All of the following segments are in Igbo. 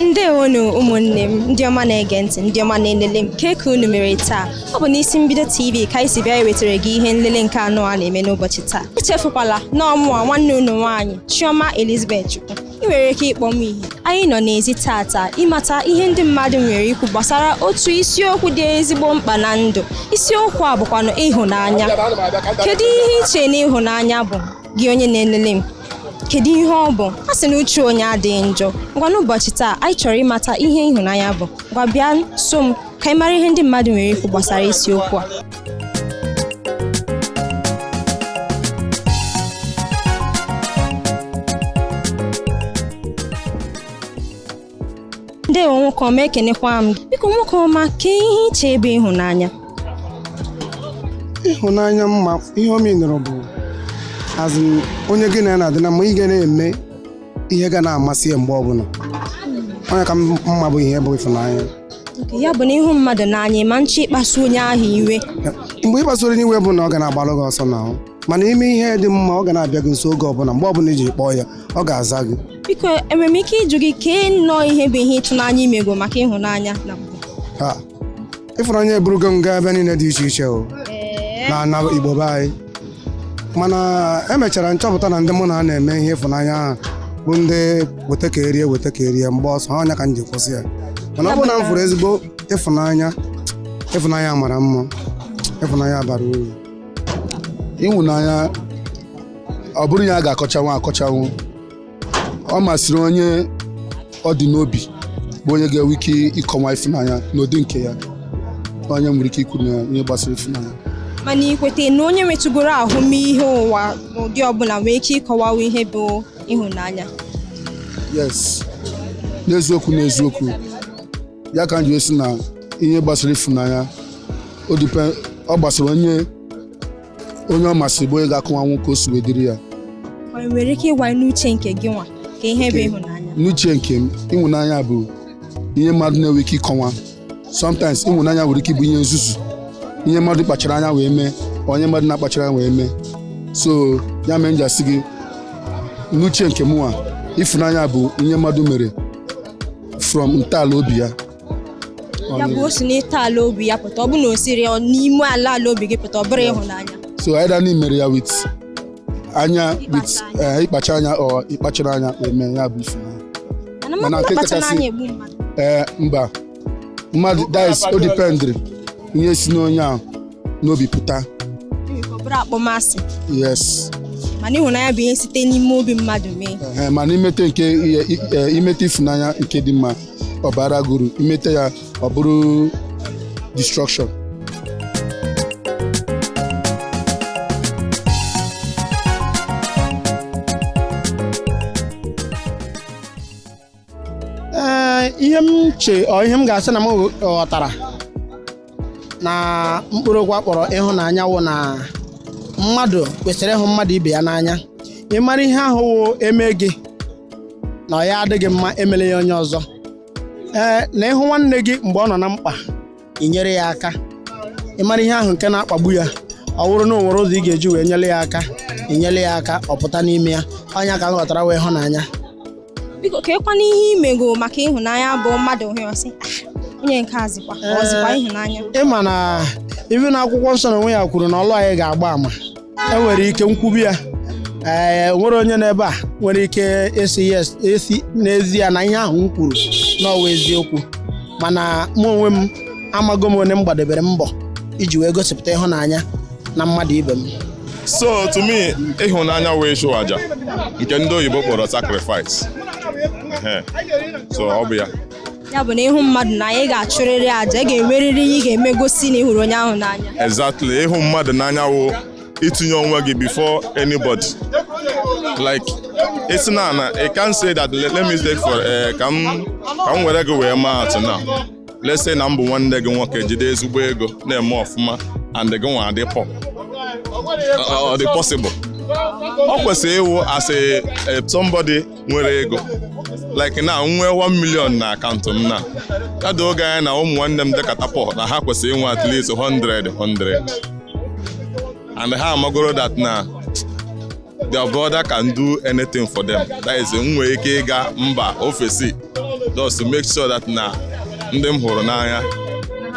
ndewonu ụmụnne m ndị ọma na-ege ntị ndị ọma na-elele m kee ka unu mere taa ọ bụ n'isi mbido tv ka anyị si bịa ewetara gị ihe nlele nke anụwa na-eme n'ụbọchị taa echefukwala na ọ mụwa nwanne unu nwaanyị chioma elizabeth chukwu ị nwere ike ịkpọ m ihe anyị nọ n'ezi tata ịmata ihe ndị mmadụ nwere ikwu gbasara otu isiokwu dị ezigbo mkpa na ndụ isiokwu a bụkwanụ ịhụnanya kedu ihe i che na ịhụnanya bụ gị onye na-elele m kedu ihe ọ bụ a sị na uche onye adịghị njọ ngwa n'ụbọchị taa anyị chọrọ ịmata ihe ịhụnanya bụ ngwa bịa so m ka anyị mara ihe ndị mmadụ nwere ikwu gbasara isiokwu a ndewo nwoke ọma ekenekwa m gị biko nwoke ọma kee ihe i che bụ ịhụnanya ịhụnanya m ma ihe ọ meanụrụ bụ a sị onye gị na ya na-adị na mma ị ga na-eme ihe ga na-amasị ya mgbe ọbụla ọ nya ka m ma bụ ihe bụ ịfụnanya ya bụ na ị hụ mmadụ n'anya ma nche ịkpasu onye ahụ iwe mgbe ị kpasuru onye iwe bụ na ọ ga na-agbalụ gị ọsọ n'ahụ mana i mee ihe dị mma ọ ga na-abịa gị nso oge ọbụla mgbe ọbụla i ji kpọọ ya ọ ga-aza gị biko enwere m ike ịjụ gị kee nnọọ ihe bụ ihe ịtụnanya i mego maka ịhụnanya na mbụ Ha, ịfụnanya eburugo m gaa ebe niile dị iche iche o na na igbo be anyị mana emechara m chọpụta na ndị mụ na ha na-eme ihe ịfụnanya ahụ bụ ndị weta ka e rie weta ka e rie m gbaa ọsọ ọ nya ka m ji kwụsị ya mana ọ bụrụ na m fụrụ ezigbo ịfụnanya ịfụnanya mara mma ịfụnanya bara uru ịhụnanya ọ bụrọ ihe a ga-akọchanwu akọchanwu ọ masịrị onye ọ dị n'obi bụ onye ga-enwe ike ịkọwa ịfụnanya n'ụdị nke ya onye nwere ike ikwu na ihe gbasara ịfụnanya mana i kweta na onye nwetụgoro ahụmịhe ụwa n'ụdị ọbụla nwee ike ịkọwawa ihe bụ ịhụnanya yes n'eziokwu n'eziokwu ya ka m ji asị na ihe gbasara ịfụnanya ọ gbasara onye onye ọ masịrị bụ onye ga-akọwanwu ka o si wee dịrị ya Ị nwere ike ịgwa anyị n'uche nke gịnwa kee ihe bụ ịhụnanya. n'uche nke m ịhụnanya bụ ihe mmadụ na-enwe ike ịkọwa sometimes ịhụnanya nwere ike ịbụ ihe nzuzu ihe mmadụ kpachara anya wee mee or ihe mmadụ na-akpachara anya wee mee so ya mee m ji asị gị n'uche nke mụnwa ịfụnanya bụ ihe mmadụ mere from ntọala obi ya ya bụ o si na ntọala obi ya pụta ọ bụ na o siri ya n'ime ala ala obi gị pụta ọ bụrụ ịhụnanya so either na i mere ya with anya with eh, ịkpacha anya or ịkpachara anya eme ya bụ ifunanya mana Mana mmadụ nke na-akpacha kachasị- n'anya egbu mmadụ ee mba mmadụ dị iche o dependịrị ihe si n'onye ahụ n'obi pụta Enwere ike ọ bụrụ akpọmasị yes mana ịhụnanya bụ ihe site n'ime obi mmadụ mee Ehe, mana imete nke ihe- i- eh, imete ifunanya nke dị mma ọ bara gị uru imeta ya ọ bụrụ destruction ee ihe m che ọ ihe m ga-asị na m ghọtara na mkpụrụ okwu a kpọrọ ịhụnanya wụ na mmadụ kwesịrị ịhụ mmadụ ibe ya n'anya ịmara ihe ahụ wụ e mee gị na ọ ya adịghị mma emele ya onye ọzọ ee na ịhụ nwanne gị mgbe ọ nọ na mkpa inyere ya aka ịmara ihe ahụ nke na-akpagbu ya ọ bụrụ na o nwere ụzọ ị ga-eji wee nyere ya aka inyere ya aka ọ pụta n'ime ya ọ nya ka m ghọtara wụ ịhụnanya biko keekwana ihe i mego maka ịhụnanya bụ mmadụ hụ ya ọ sị "Ah, onye nke a zikwa ọ zikwa ịhụnanya ị ma na even na akwụkwọ nsọ na onwe ya kwuru na ọlụ anyị ga-agba ama enwere ike m kwube ya ee nwere onye n'ebe a nwere ike ịsị yes esi n'ezie na ihe ahụ m kwuru na ọ wụ eziokwu mana mụ onwe m amago m onye m gbadebere mbọ iji wee gosipụta ịhụnanya na mmadụ ibe m so to me ịhụnanya wụ ịchụ aja nke ndị oyibo kpọrọ sacrifice so ọ bụ ya ya bụ na ịhụ mmadụ n'anya ị ga-achụrịrị aja ị ga-enwerịrị ihe ị ga-eme gosi na ị hụrụ onye ahụ n'anya exactly ịhụ mmadụ n'anya wụ itinye onwe gị before anybody like esi na ana i can say that let me take for eh, ka m were gị wee maa atụ na let's say na m bụ nwanne gị nwoke jide ezigbo ego na-eme ọfụma and gị nwa adị poor ọ dịghị possible ọ kwesịrị ịwụ asị eh, somebody nwere ego like na m nwee 1 million na akaụntụ m na ya doo gị anya na ụmụ nwanne m dịkata poor na ha kwesịrị inwe at least 100 100 and ha amagoro that na their brother can do anything for them that is m nwere ike ịga mba ofesi just to make sure that na ndị m hụrụ n'anya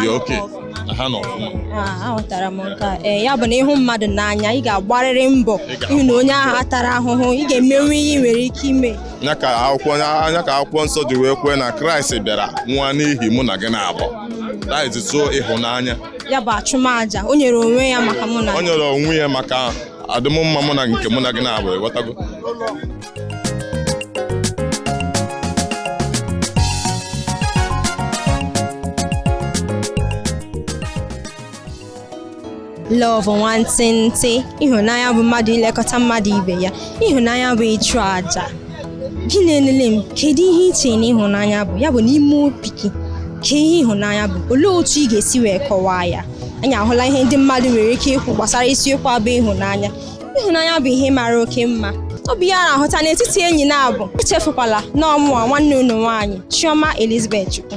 dị okay na ha nọ ọfụma Ah, aghọtara m nke a. Ee, ya bụ na ịhụ mmadụ n'anya ị ga-agbarịrị mbọ Ị ga-agba. ịhụ na onye ahụ atara ahụhụ ị ga-emenwu ihe ị nwere ike ime nya ka akwụkwọ ọ nya ka akwụkwọ nsọ ji wee kwuo na kraịst bịara nwụọ n'ihi mụ na gị naabọ that is so ịhụnanya ya bụ achụmaja o nyere onwe ya maka mụ na o nyere onwe ya maka adịmụmma mụ na nke mụ na gị naabọ ị ghọtago love nwantịntị ịhụnanya bụ mmadụ ilekọta mmadụ ibe ya ịhụnanya bụ ịchụ aja gị na-elele m kedu ihe i che na ịhụnanya bụ ya bụ n'ime obi gị kee ihe ịhụnanya bụ olee otu ị ga-esi wee kọwaa ya anyị ahụla ihe ndị mmadụ nwere ike ikwu gbasara isiokwu a bụ ịhụnanya ịhụnanya bụ ihe mara oke mma ọ bụ ihe a na-ahụta n'etiti enyi naabọ echefukwala na ọ mụwa nwanne unu nwaanyị Chioma Elizabeth Chukwu